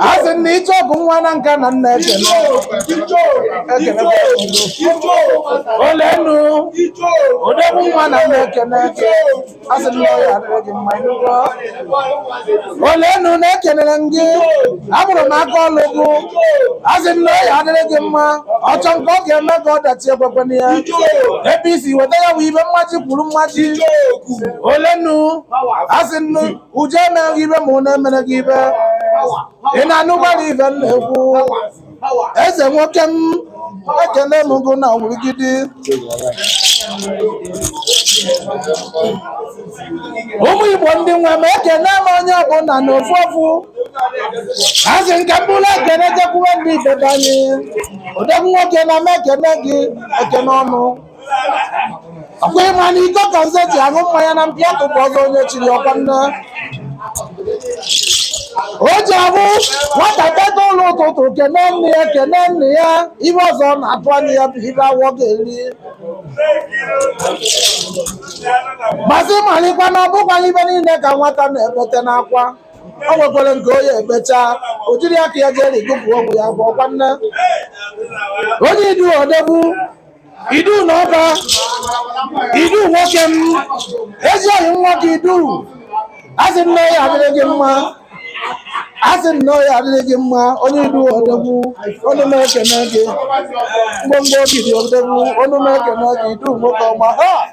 a sị na ịchọ bụ nwa Nanka na m na-ekene olenu odogwu nwa na m na-ekene a sị na ọ ya adịrị gị mma ịnụgo olenu na-ekenere m gị afụrụ m aka ọlụ gụ a sị na ọ ya adịrị gị mma ọchọ nke ọ ga-eme ka ọ dachi ekwekwana ya ebe i si weta ya bụ ibe mmaji kwuru mmaji olenu a sị nnu Uju emere gị ibe ma ọ na-emere gị ibe ị na-anụkwara ibe m na-ekwu eze nwoke m ekene m gụ na wurugidi ụmụ igbo ndị nwe m ekene m onye ọbụla na ofu ofu a sị ka m buru ekene jekwuwe ndị be anyị odogwu nwoke na m ekene gị ekene ọnụ ọkwa ịma na iko ka nze ji aṅụ mmanya na mpi atụ bụ ọzọ onye chiri ọkwa nne o ji abụ nwata teta ụla ụtụtụ kene nne ya kene nna ya ibe ọzọ ọ na-atụ anya ya bụ ibe afọ ga-eri ma a sị malikwa na ọbụkwaghị ibe niile ka nwata na-ebete n'akwa o nwekwere nke ọ ya-ebecha o jiri aka ya jee rigụpụ ogwu ya bụ ọkwa nne onye idu odogwu idu na ọba idu nwoke m ezi oyi nwoke idu asị na ọ ya adịrị gị mma asị na ọ ya adịrị gị mma onye idu odogwu ọnụ m ekene gị mgbomgbo obi dị odogwu ọnụ m ekene gị idu nwoke ọma ha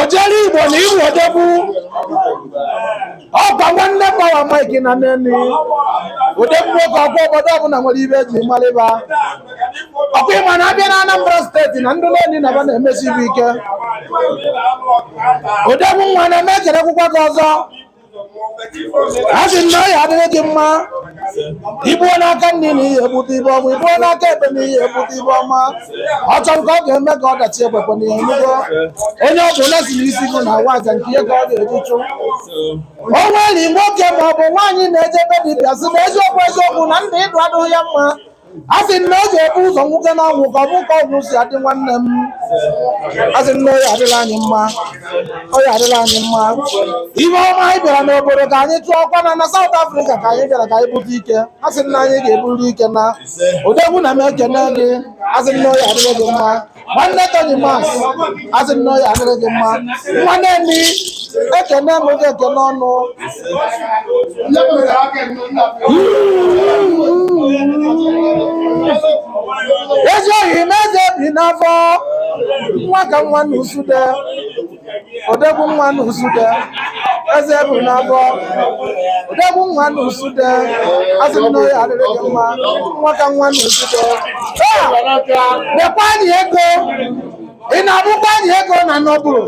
ojere igbo na iru odogwu ọkwa nwanne Power Mike na neni odogwu nwoke ọkwa obodo ọbụla nwere ibe eji malị ba ọkwa ịma na abịa na anambra state na ndị neni na ba na-emesi ibe ike odogwu nwa na m ekelekwukwa gị ọzọ asị m na ọya adịrị gị mma i buo n'aka nri na ị ya-ebute ibe ọma i buo n'aka ekpe na ị ya-ebute ibe ọma ọ chọ nke ọ ga-eme ka ọ dachi ekwekwana ya ịnụgo onye ọ bụla si n'isi gị na awa aja nke ihe ka ọ ga-eji chụ o nwere nwoke ma ọ bụ nwaanyị na-eje be dibịa sị na eziokwu eziokwu na ndụ idu adịghị ya mma a sị na ọ ga-ebu ụzọ nwoke na anwụ ka ọ fụ ka ọnwụ si adị nwanne m a sị na ọ ya adịlị anyị mma ọ ya adịlị anyị mma ihe ọma anyị bịara n'obodo ka anyị chụọ ọkwa na na South Africa ka anyị bịara ka anyị bute ike a sị na anyị ga-eburu ike na odogwu na m ekene gị a sị na ọ ya adịrị gị mma nwanne Tony Max asị m na ọ ya adịrị gị mma nwa Neni ekene m gị ekene ọnụ ezi oyi m eze bi n'afọ nwa ka nwa na usude odogwu nwa n'usude eze bụ n'abọ odogwu nwa n'usude asị m na ọ ya-adịrị gị mma nwa ka nwa n'usude dekwa anyị ego ị na-abụkwa anyị ego na nọbụrụ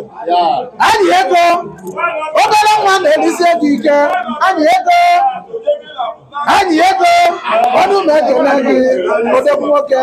anyị ego obere nwa na-elisi ego ike anyị ego anyị ego ọnụ m ekene gị odogwu nwoke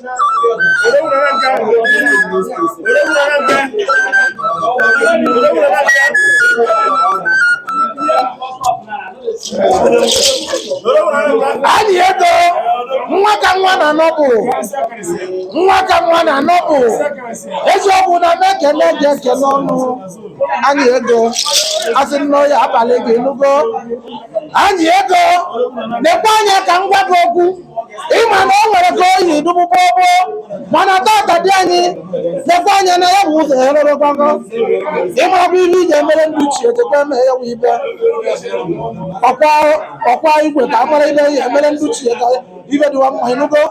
anyị ego nwa ka nwa na nọbụ nwa ka nwa na nọbụ eziokwu na m ekene gị ekene ọnụ anyị ego asị m na ọ ya-abalị gị nugo anyị ego nekwa anya ka m gwa gị okwu ịma na o nwere ka o yi dịbu gbogbo mana tata dị anyị nekwa anya na ya bụ ụzọ ya rere gbago ịma bụ ihe iji emere ndị ichie jekwa eme ya bụ ive ọkwa igwe ka amara ive ya emere ndị ichie ka ive dịwa mma ịnụgo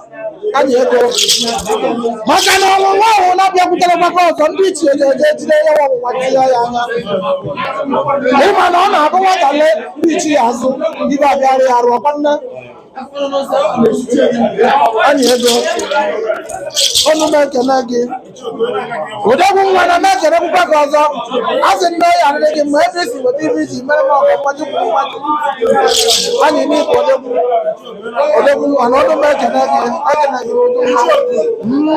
anyị ego maka na ọnwụnwa ahụ na-abịakwutere maka ọzọ ndị ichie ga-eje ejide ya bụ ọnwụnwa tinye ya anya ịma na ọ na-abụ nwata lee ndị ichie azụ ive abịara ya arụ ọkwa nne anyị ego ọnụ m ekene gị odogwu nwanne m ekene kwukwa gị ọzọ a sị m na ọ ya-adịrị gị mma ebe isi weta ive iji mere m ọgọ mmadụ kwuru mmadụ anyị n'ikwu odogwu odogwu nwanne ọnụ m ekene gị ekene gị odogwu nwa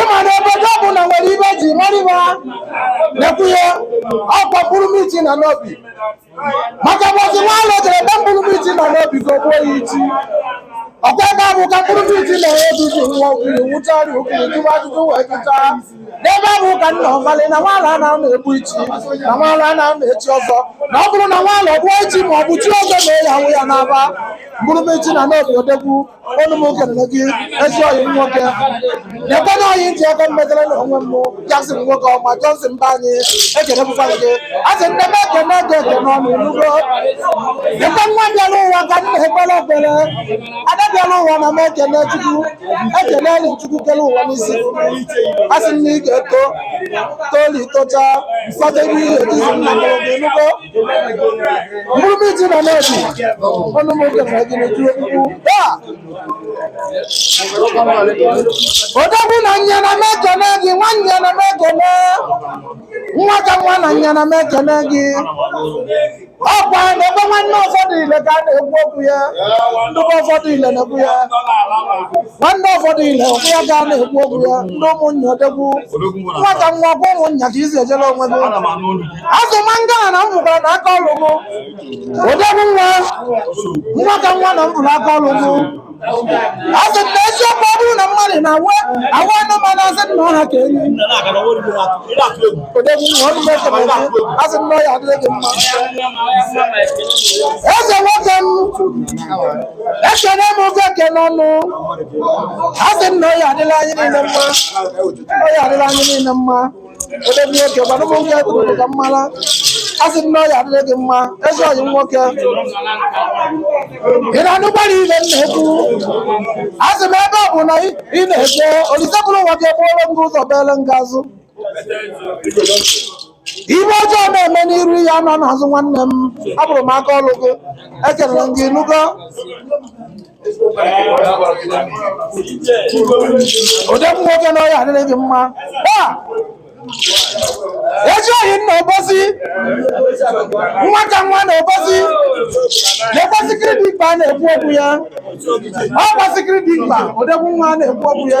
ịma na obodo ọ bụla nwere ive e ji mara ha na-ekwunye ọkwa mkpụrụ miti na Nnobi maka ụbọchị nwaala jere ebe mkpụrụ miti na Nnobi ka o gbuo ya ichi ọkwa ebe ahụ ka mkpụrụ miti na Nnobi ji nwa okiri wụchara okiri jụwa ajụjụ wee jụcha n'ebe ahụ ka nna ọmalị na nwaala a na-anọ egbu ichi na nwaala a na-anọ echi ọzọ na ọ bụrụ na nwaala ọ gbuo ichi ma ọ bụ chie ọzọ na-eyi ahụ ya n'aba mkpụrụ miti na Nnobi odogwu ọnụ m ekene gị ezi ọyị m nwoke nekwe na ọyị m ji aka m metara na onwe m Jackson nwoke ọma Johnson mba anyị ekene bụkwa gị a sị m na m ekene gị ekene ọnụ ị nugo ebe nwa bịara ụwa ka m na-ekpere ekpere ada bịara ụwa na m ekene chukwu ekene enyi chukwu kere ụwa n'isi a sị m na ị ga-eto toli tocha fọdụ ebe ihe ejizi nna gị ị nugo Mkpụrụ miti na Nnobi, ọnụ m ekene gị na ji wani ba. Odogwu na nya na m ekene gị, nwa nya na m ekene. Nwa ka nwa na nya na m ekene gị. Ọkwa na ebe nwanne ụfọdụ ile ka a na-ekwu okwu ya. Ndụkọ ụfọdụ ile na-ekwu ya. nwanne Ọfọdile ọkwa ya ka a na-ekwu okwu ya ndị ụmụnne odogwu nwa ka nwa ọkwa ụmụnnya ka izi ejela onwe gị asị mangana na m fụkwara na aka ọlụ gị odogwu nwa nwa ka nwa na m fụrụ aka ọlụ gị asị na eziokwu ọ bụrụ na mmadụ na-awa anụmanụ asị na ọ ha ka enyi odogwu nwa ọnụ m ekele gị asị na ọ ya adịrị gị mma ezi nwoke m ekene m oge ekene ọnụ a sị m na ọ ya adịrị anyị niile mma ọ ya adịrị anyị niile mma odogwu nwoke gbara m nwoke kwuru ka m mara a sị m na ọ ya adịrị gị mma ezi oyi m nwoke ị na-anụkwara ife m na-ekwu a sị m ebe ọ bụ na ị ị na-eje olise buru ụwa ga-eburu gị ụzọ kpeere gị azụ Ife ọjọọ na-eme n'iru ị ya anọ n'azụ nwanne m afụrụ m aka ọrụ gị ekelere m gị ị nụgo odogwu nwoke na ọ ya adịrị gị mma ezi oyi m na obosi nwa ka nwa na obosi lekwa sikiri dị mkpa a na-ekwu okwu ya ọkwa sikiri dị mkpa odogwu nwa a na-ekwu okwu ya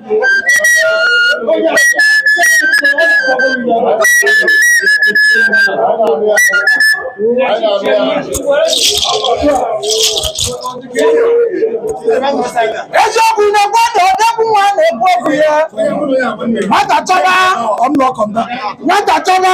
eziokwu na mmadụ odogwu nwa na-ekwu okwu ya nwata chọba nwata chọba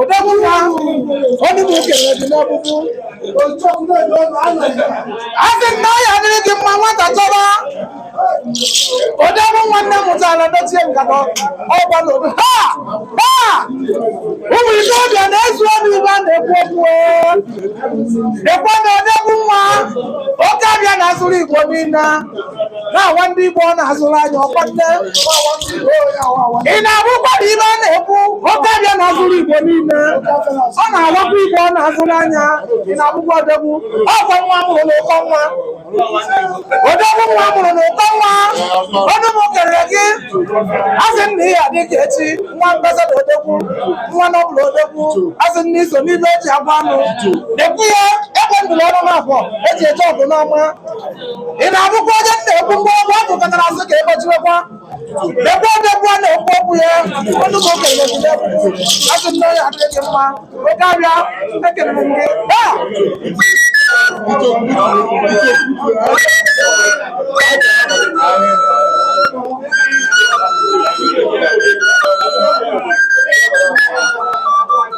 Odogwu nwa ọnụ m kelere gị n'ọkpụkpụ asị m na ọ ya adịrị gị mma nwata chọba odogwu nwa nne mụtara dochie nkata ọgba n'obi ha ha ụmụ ikorobịa na-ezu obi ife a na-ekwu okwu ekwe na odogwu nwa oke abịa na-azụrụ igbo niile na-awa ndị Igbo ọ na-azụrụ anya ọkwa nne ị na-afụkwara ife a na-ekwu oke abịa na-azụrụ Igbo niile ọ na-awakwa Igbo ọ na-azụrụ anya ị na-afụkwa odogwu ọkwa nwa mụrụ na ụkọ nwa odogwu nwa mụrụ na ụkọ nwa ọnụ m kelere gị asị na ihe adị ka echi nwa ambasada odogwu nwa na ọ bụrụ odogwu asị na i so n'ife eji agwa anụ dekwu ya ekwe ndụrụ ọnụ na abụọ eji eje ọgụ n'ọma ị na-afụkwa onye m na-ekwu mgbe ọgwụ ọ pụtara asị ka ịgbachiwekwa dekwa odogwu a na-ekwu okwu ya ọnụ m kelere gị asị m na ọ ya adịrị gị mma oke abịa ekelere m gị Ah!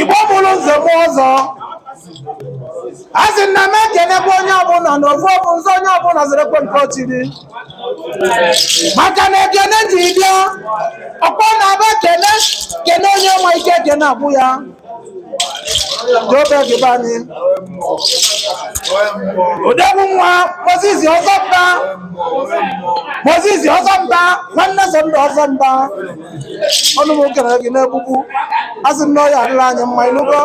igbo mụrụ nze mụọ ọzọ a sị na m ekenekwa onye ọbụla na ofu ọbụ nzọ onye ọbụla zarakwa nke o chiri maka na ekene ji bịa ọkpọ na-abụ ekene kene onye ma ike ekene abụ ya odogwu nwa moses ọzọmba nwanne sunday ọzọmba ọnụ m kenere gị n'egbugbu a sị na ọ ya-adịrị anyị mma ịnụgo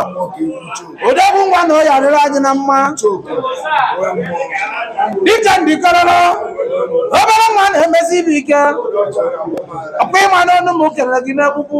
odogwu nwa na ọ ya-adịrị anyị na mma dịka ndịkọrọrọ obere nwa na-emesi ibe ike ọkwa ị ma na ọnụ m kenere gị n'egbugbu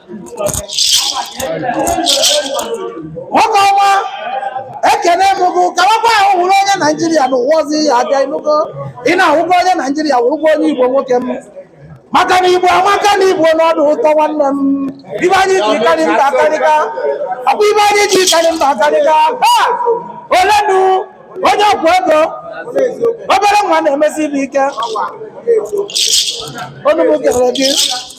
nwoke ọma ekene m gị kawakwa ahụ wụrụ onye naijiria na ụwa ọzọ ị ya-abịa ịnụgo ị na-awụkwa onye naijiria wụrụkwa onye igbo nwoke m maka na igbo amaka na igbo na ọ dị ụtọ nwanne m ibe anyị ji karị mba akarịka ọkwa ibe anyị ji karị mba akarịka olenu onye okwu ego obere nwa na-emesi ibe ike ọnụ m kelere gị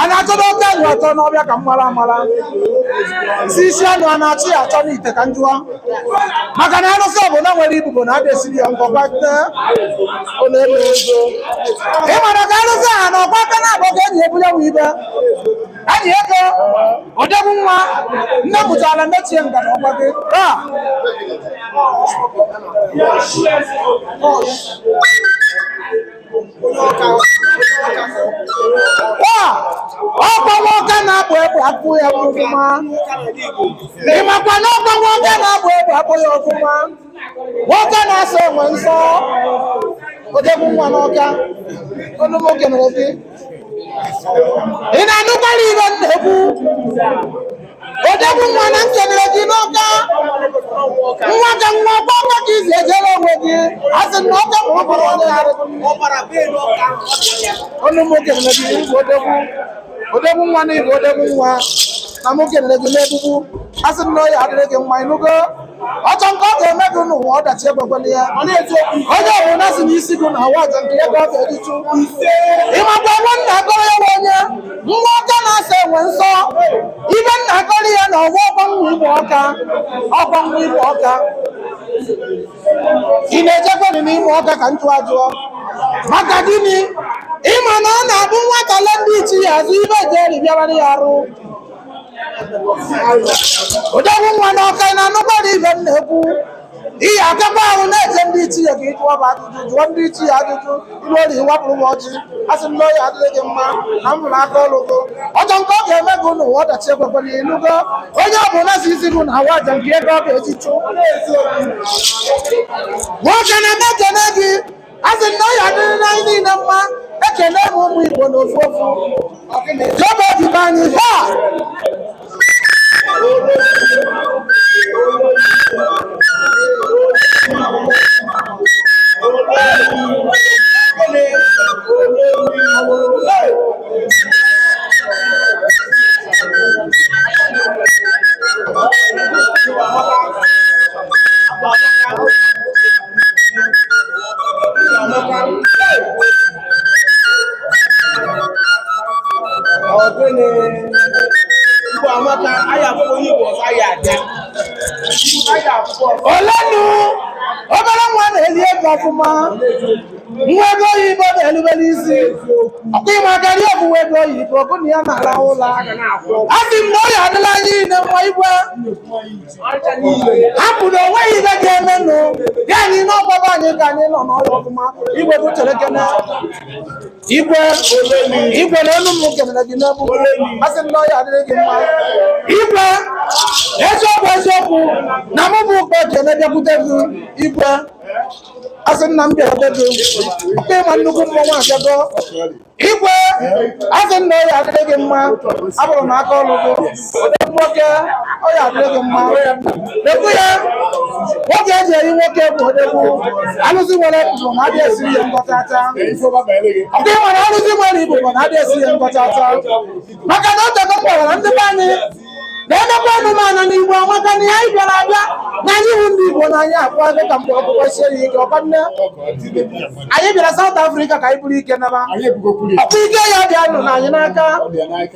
a na-achọba oke anụ atọ n'ọbịa ka m mara amara si isi anụ a na-achị ya achọ n'ite ka m jụọ maka na arụsị ọbụla nwere ibubo na ada esiri ya ngọ gbate ọ na-elu ego ị mara ka arụsị a na ọgba aka na-abụ ka eji ebunye nwe ibe enyi ego odogwu nwa nne pụtara mechie ngada ọgba gị taa ọkwa nwa ọka na-akpụ egbe akpụ ya ọfụma ị makwa na ọkwa nwa ọka na-akpụ egbe akpụ ya ọfụma nwa ọka na-asọ enwe nsọ odogwu nwa n'ọka ọnụ m kenere gị ị na-anụkwara ibe m na-ekwu odogwu nwa na m kenere gị n'ọka nwa ka nwa ọkwa ka ị si ejere onwe gị a sị na ọka ma ọ bụrụ onye arụ ọnụ mụ kenere gị odogwu nwa na igwe odogwu nwa na mụ kenere gị n'egbugbu a sị na ọ ya-adịrị gị mma ịnụgo ọchọ nke ọ ga-eme gị n'ụwa ọdachi ekwekwele ya onye ọbụla sị na isi gị na ọ wụ aja nke ya ka ọ ga-eji chụ ị makwa nwa m na-akọrọ ya onye nwa ọka na-asọ enwe nsọ ibe m na-akọrọ ya na ọwa ọkwa nwa imo ọka ọkwa nwa imo ọka ị na-ejekwanị n'imo ọka ka m jụ ajụọ maka gịnị ị ma na ọ na-abụ nwata le ndị ichie ya azụ ibe eji eri bịabara ya arụ odogwu nwa n'ọka ị na-anụkwara ihe m na-ekwu ihe akaba ahụ na-eje ndị ichie ka ị jụọba ajụjụ jụọ ndị ichie ajụjụ ilu ori wapụrụ m ọjị a sị m na ọya adịrị gị mma na m hụrụ aka ọrụ gị ọjọọ nke ọ ga-eme gị n'ụwa ọdachi ekwekwala ya ị nụgo onye ọ bụla sị isi gị na awa aja nke ya ka ọ ga-eji chụ nwoke na-eme ekene gị a sị m na ọya adịrị na anyị niile mma ekene m ụmụ igbo na ofu ofu jọba ndị be anyị ha olenu obere nwa na-eli ego ọfụma nwa ego oyibo na-erubere isi ọkwa ịmakwara ọ bụ nwa ego oyibo bụ na ya na-arahụ ụla a sị m na ọ ya adịrị anyị niile mma igwe hapụ na onweghị ihe ga-emenụ anyị n'ọgbaba anyị ka anyị nọ n'ọrụ ọfụma igwe m cherekene igwe igwe na ọnụ m kenere gị n'egwu asị m na ọya adịrị gị mma igwe eziokwu eziokwu na mụ bu ụkpa ekene bịakwute gị igwe asị m na m bịakwute gị ọkwa ịma nnukwu mmọnwụ abịago igwe asị m na ọya adịrị gị mma ahụrụ m aka ọrụ gị ode nwoke ọya adịrị gị mma ekwu ya nwoke eji eri nwoke bụ odogwu alụsị nwere ibobo na adị esiri ya ngọtata ọkwa ịma na alụsị nwere ibobo na adị esiri ya ngọtata maka na o tego m kpọrọ ndị be anyị na emekwa anụmanụ na igbo amaka na anyị bịara abịa na anyị bụ ndị igbo na anyị akpa ego ka mgbe ọkpụkpụ sie ya ike ọkwa na anyị bịara South Africa ka anyị buru ike naba ọkwa ike ya dịnụ anyị n'aka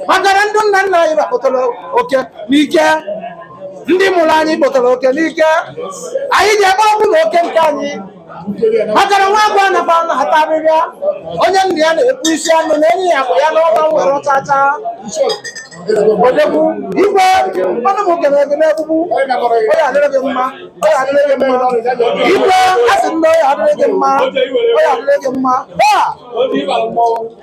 maka na ndị nna nna anyị ha kpụtara oke n'ike ndị mụrụ anyị kpụtara oke n'ike anyị je ebe ọ bụla oke nke anyị maka na nwa agụ anakwanụ ata ahịhịa onye nna ya na-ekpu isi anụ na enye ya bụ ya n'ọba nwere ọchacha odogwu igwe ọnụ m kene gị n'egbugbu ọ ya adịrị gị mma ọ ya adịrị gị mma igwe asị m na ọ ya adịrị gị mma ọ ya adịrị gị mma